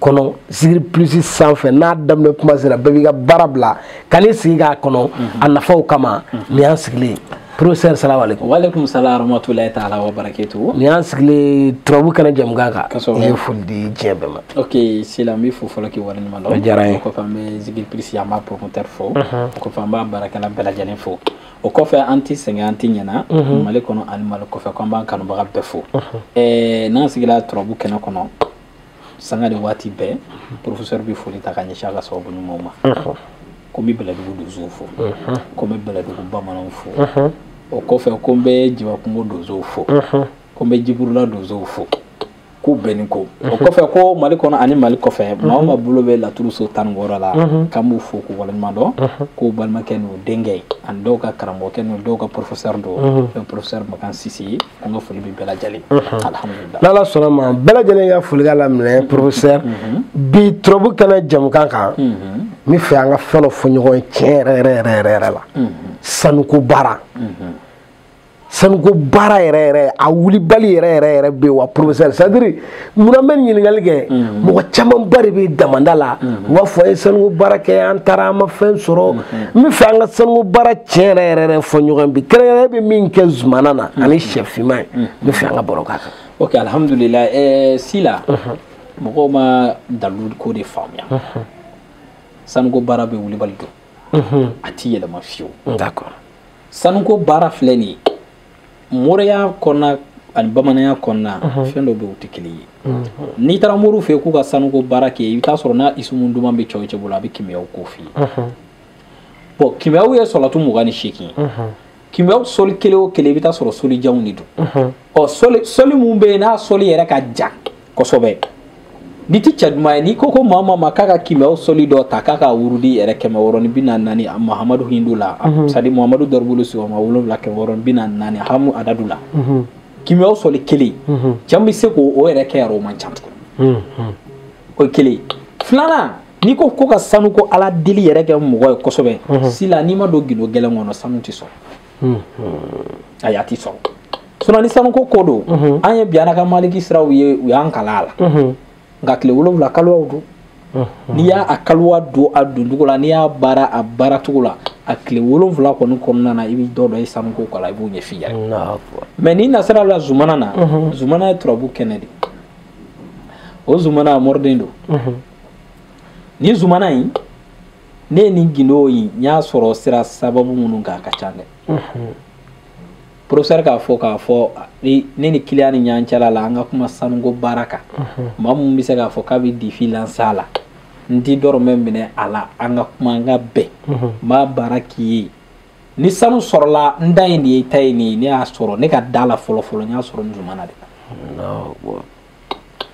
kɔnɔ zikiri plus sanfɛ n'a daminɛ kuma sera bɛɛ b'i ka baara bila ka n'i sigi k'a kɔnɔ a nafaw kama nin y'an sigilen professeur salamu alaikum wa alaikum salam rahmatulahi ta'ala wa barakatuh nin y'an sigilen turabu kɛnɛ jɛmukan kan Kosɛbɛ. i ye foli di diɲɛ bɛɛ ma ok sila n bɛ fo fɔlɔ k'i waleɲuman dɔn O diyara n ye. o kɔfɛ an bɛ zikiri plus an b'a promoteur fo o kɔfɛ an b'a baarakɛla bɛɛ lajɛlen fo o kɔfɛ an tɛ sɛgɛn an tɛ ɲɛna mali kɔnɔ ani mali kɔfɛ ko an b'an kanubaga bɛɛ fo ɛɛ n'an sigila turabu kɛnɛ kɔnɔ sanga ni waati bɛɛ professeur bɛ foli ta ka ɲɛsin a ka sababu ɲumanw ma ko n bɛ bɛlɛdugu donsow fo ko n bɛ bɛlɛdugu bamananw fo o kɔfɛ ko n bɛ jibakungo donsow fo ko n bɛ jiburula donsow fo k'u bɛɛ ni ko o kɔfɛ ko mali kɔnɔ ani mali kɔfɛ maa o maa bolo bɛ laturu so tan ni wɔɔrɔ la k'an b'u fo k'u waleɲuman dɔn k'u balimakɛ n'u denkɛ ani dɔw ka karamɔgɔkɛ n'u dɔw ka professeur don n'o ye professeur makan sise ye an ka foli bɛ bɛɛ lajɛlen alihamudulila n'ala sɔnna ma bɛɛ lajɛlen ka foli ka laminɛ professeur bi turabu kɛnɛ jɛmukan kan n bɛ fɛ an ka fɛn dɔ fɔ ɲɔgɔn ye tiɲɛ yɛrɛ yɛrɛ yɛrɛ yɛrɛ yɛrɛ la sanuko baara sanuko baara yɛrɛ yɛrɛ a wulibali yɛrɛ yɛrɛ yɛrɛ bɛ wa professeur c'est à dire munna n bɛ ɲininkali kɛ mɔgɔ camanba de bɛ damanda la u b'a fɔ an ye sanuko baara kɛ an taara an ma fɛn sɔrɔ n bɛ fɛ an ka sanuko baara tiɲɛ yɛrɛ yɛrɛ yɛrɛ fɔ ɲɔgɔn bi kɛrɛnkɛrɛnnen bɛ min kɛ zumana na ani sɛ finman ye n bɛ fɛ an ka baro k'a kan. ok alihamudulila ɛɛ sila mɔgɔw ma dalu ko de faamuya sanuko baara bɛ wulibali don a ti yɛlɛma fiyewu sanuko baara filɛ nin ye. moriya kɔnɔna ani bamananya kɔnɔna mhm. fɛn dɔ bɛ u tɛ kelen ye mhm. n'i taara moriw fɛ k'u ka sanuko baara kɛ i bɛ taa sɔrɔ n'a isumu duman bɛ cɛ o cɛ bolo a bɛ kimiyaw ko f'i ye mhm. bon kimiyaw ye sɔlatu mugan ni seegin ye kimiyaw soli kelen o kelen i bɛ taa sɔrɔ soli janw de don ɔ soli soli mun bɛ yen n'a soli yɛrɛ ka jan kosɛbɛ n'i ti cɛ duman ye n'i ko ko maa maa ma k'a ka kimiyaw soli dɔ ta k'a ka wurudi yɛrɛ kɛmɛ wɔɔrɔ ni bi naani naani mahamadu hindu la mhm. c'est à dire mahamadu dɔribulu sigiyɔrɔma wolonwula kɛmɛ wɔɔrɔ ni bi naani naani hamu adadu la mhm. kimiyaw soli kelen mhm. cɛ min bɛ se k'o o yɛrɛ kɛ yɛrɛ o man ca tugun o ye kelen filanan n'i ko ko ka sanuko ala deli yɛrɛ kɛ mɔgɔ ye kosɛbɛ sila n'i ma don gindo gɛlɛn kɔnɔ sanu tɛ sɔrɔ ayi a tɛ sɔn sinon ni sanuko ko don an ye biana ka maliki siraw ye u y'an kalan a la nka tile wolonwula kalowaw don n'i y'a a kalowa don a doncogo la n'i y'a baara a baaracogo la a tile wolonwula kɔni kɔnɔna na i bɛ dɔ dɔ ye sanuko ko la i b'o ɲɛf'i yɛrɛ mais n'i nasira la zumana na zumana ye turabu kɛnɛ de o zumana a moriden don ni zumana in ne ye nin gindo in n y'a sɔrɔ sira sababu minnu kan a ka ca dɛ professeur k'a fɔ k'a fɔ ni ne ni kiliyan ni ɲɔgɔn cɛla la an ka kuma sanuko baara kan maa min bɛ se k'a fɔ k'a bɛ défi lancer a la n ti dɔrɔmɛ minɛ a la an ka kuma an ka bɛn n b'a baara k'i ye ni sanu sɔrɔla n ta ye nin ye i ta ye nin ye ne y'a sɔrɔ ne ka da la fɔlɔ fɔlɔ n y'a sɔrɔ n zumana de la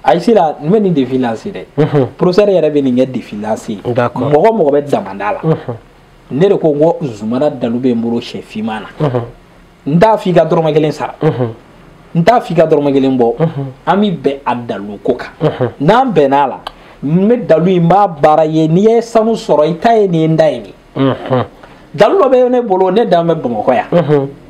ayi sila n bɛ nin défi lancer dɛ professeur yɛrɛ bɛ nin kɛ défi lancer mɔgɔ mɔgɔ bɛ damanda la ne de ko n ko zumana dalu bɛ n bolo sɛ finman na n t'a f'i ka dɔrɔmɛ kelen sara n t'a f'i ka dɔrɔmɛ kelen bɔ an bɛ bɛn a dalu ko kan n'an bɛnna a la n bɛ dalu in n b'a baara ye n'i ye sanu sɔrɔ i ta ye nin ye n ta ye nin dalu dɔ bɛ ne bolo ne dan bɛ bamakɔ yan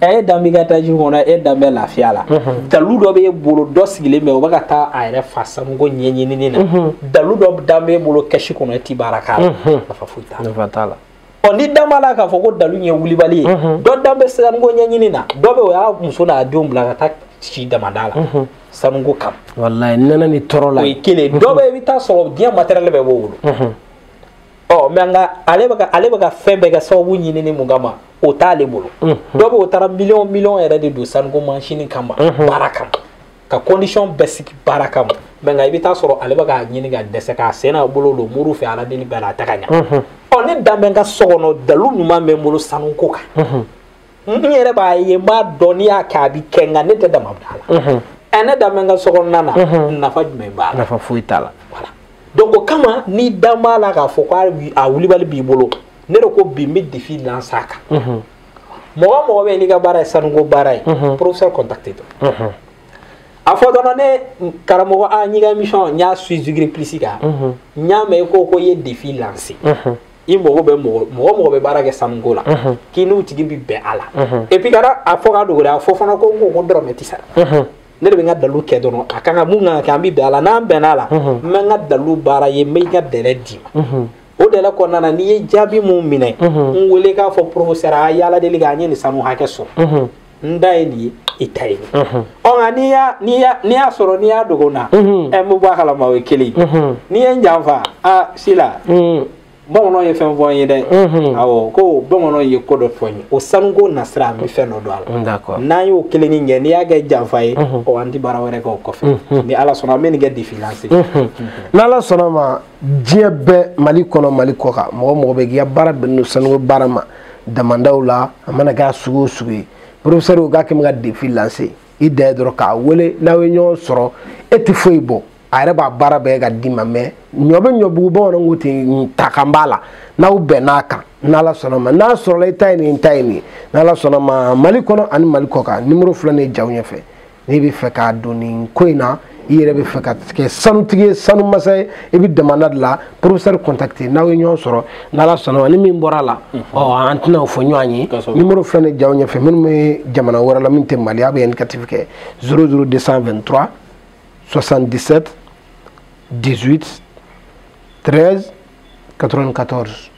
ɛ e dan b'i ka étage kɔnɔ e dan bɛ lafiya la dalu dɔ b'e bolo dɔ sigilen bɛ o bɛ ka taa a yɛrɛ fa sanuko ɲɛɲinini na dalu dɔ dan b'e bolo kɛsi kɔnɔ e ti baara k'a la nafa foyi t'a la nafa t'a la ɔ ni dan b'a la k'a fɔ ko dalu ye wulibali ye dɔ dan bɛ sanuko ɲɛɲini na dɔ bɛ o y'a muso n'a denw bila ka taa si damada la sanuko kama walayi nɛnɛ ni tɔɔrɔ la o ye kelen dɔ bɛ i bɛ taa sɔrɔ diɲɛ matériel bɛɛ b'o bolo ɔ mais nka ale bɛ ka ale bɛ ka fɛn bɛɛ kɛ sababu ɲinini mun kama o t'ale bolo dɔ bɛ o taara miliyɔn miliyɔn yɛrɛ de don sanuko mansini kama baara kama ka condition bɛɛ sigi baara kama mais nka i bɛ taa sɔrɔ ale bɛ k'a ɲini ka dɛsɛ k'a sen n'a bolo don moriw fɛ ala deli bɛɛ la a tɛ ka ɲa ɔ ne dan bɛ n ka so kɔnɔ dalu ɲuman bɛ n bolo sanuko kan n yɛrɛ b'a ye n b'a dɔn n'i y'a kɛ a bɛ kɛ nka ne tɛ damada la ɛ ne dan bɛ n ka sokɔnɔna na nafa jumɛn b'a la nafa foyi t'a la voilà donc o kama n'i dan b'a la k'a fɔ ko a wulibali b'i bolo ne de ko bi n bɛ défi lancer a kan mɔgɔ o mɔgɔ bɛ yen n'i ka baara ye sanuko baara ye professeur contacté dɔn a fɔ dɔrɔn ne karamɔgɔ a n'i ka émission n y'a suivre zigiri plus kan n y'a mɛn i ko ko i ye défi lancer i mago bɛ mɔgɔ mɔgɔ mɔgɔ bɛ baara kɛ sanuko la k'i n'o tigi bɛ bɛn a la et puis kana a fɔ ka dogo dɛ a fɔ fana ko n ko ko dɔrɔmɛ tɛ sara ne de bɛ n ka dalu kɛ dɔrɔn a kan ka mun kan ka kɛ an bɛ bɛn a la n'an bɛnna a la n bɛ n ka dalu baara ye n bɛ i ka délai d'i ma o délai kɔnɔna na n'i ye jaabi min minɛ n wele k'a fɔ professeur a ye ala deli kɛ an ye nin sanu hakɛ sɔrɔ n ta ye nin ye i ta ye nin ɔ nka n'i y'a n'i y'a n'i y'a sɔrɔ n'i y'a dogo n na ɛ n bɛ bɔ a kalama o ye kelen ye n'i ye n janfa a sila bamananw ye fɛn fɔ n ye dɛ awɔ ko bamananw ye ko dɔ fɔ n ye o sanuko nasira an bɛ fɛn dɔ don a la n'an y'o kelenni kɛ n'i y'a kɛ janfa ye ɔ an tɛ baara wɛrɛ kɛ o kɔfɛ ni ala sɔnna an bɛ nin kɛ défi lancer n'ala sɔnna ma diɲɛ bɛɛ mali kɔnɔ mali kɔ kan mɔgɔ mɔgɔ bɛ k'i ka baara bɛnnen don sanuko baara ma damandaw la a mana kɛ a sugu o sugu ye professeur k'a kɛ bɛ ka défi lancer i ta ye dɔrɔn k'a wele n'aw ye ɲɔgɔn sɔrɔ e tɛ foyi bɔ a yɛrɛ b'a baara bɛɛ ka d'i ma mais ɲɔ bɛ ɲɔbugu bamananw ko ten ta kan b'a la n'aw bɛnn'a kan n'ala sɔnna ma n'a sɔrɔla i ta ye nin ta ye nin n'ala sɔnna ma mali kɔnɔ ani mali kɔ kan nimoro filɛ nin jaw ɲɛfɛ n'i bɛ fɛ ka don nin ko in na i yɛrɛ bɛ fɛ ka kɛ sanutigi ye sanu masa ye i bɛ damanda de la professeur contacter n'aw ye ɲɔgɔn sɔrɔ n'ala sɔnna ma ni min bɔra a la ɔ an tɛna o fɔ ɲɔgɔn ye nimoro filɛ nin jaw ɲɛfɛ minnu bɛ jamana wɛrɛ la min tɛ mali a bɛ indicatif kɛ 00223 77 18 13 94